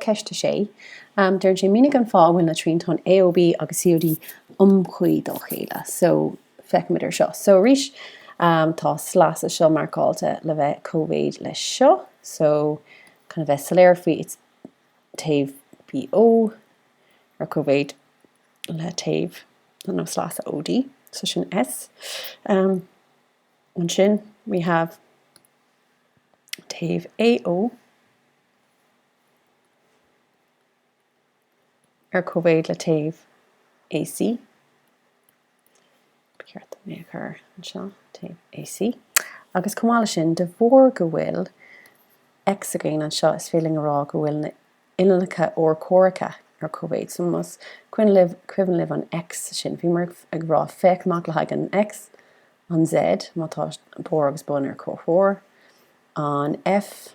Ceist 6. Deireann sé, Mínigh an fáth a bhfuil na triantáin AOB agus COD iomchuí dá chéile. So, feicimid ar seo. So, arís tá sleasa seo marcáilte le bheith cóimhéid leis seo. So, chun a bheith soiléir faoi it's taobh BO ar cóimhéid le taobh nó nó sleasa OD. So, sin S. Ansin we have taobh AO. ar cóimhéid le taobh AC, ba cheart dom é a chur anseo, taobh AC, agus chomh maith le sin, de bharr go bhfuil X againn anseo is féidir linn a rá go bhfuil na uillinneacha urchomhaireacha ar cóimhéid. So más cuimhin libh an X sin, bhíomar ag rá féach amach le haghaidh an X, an Z, má tá barr agus bun ar comhthreomhar, an F,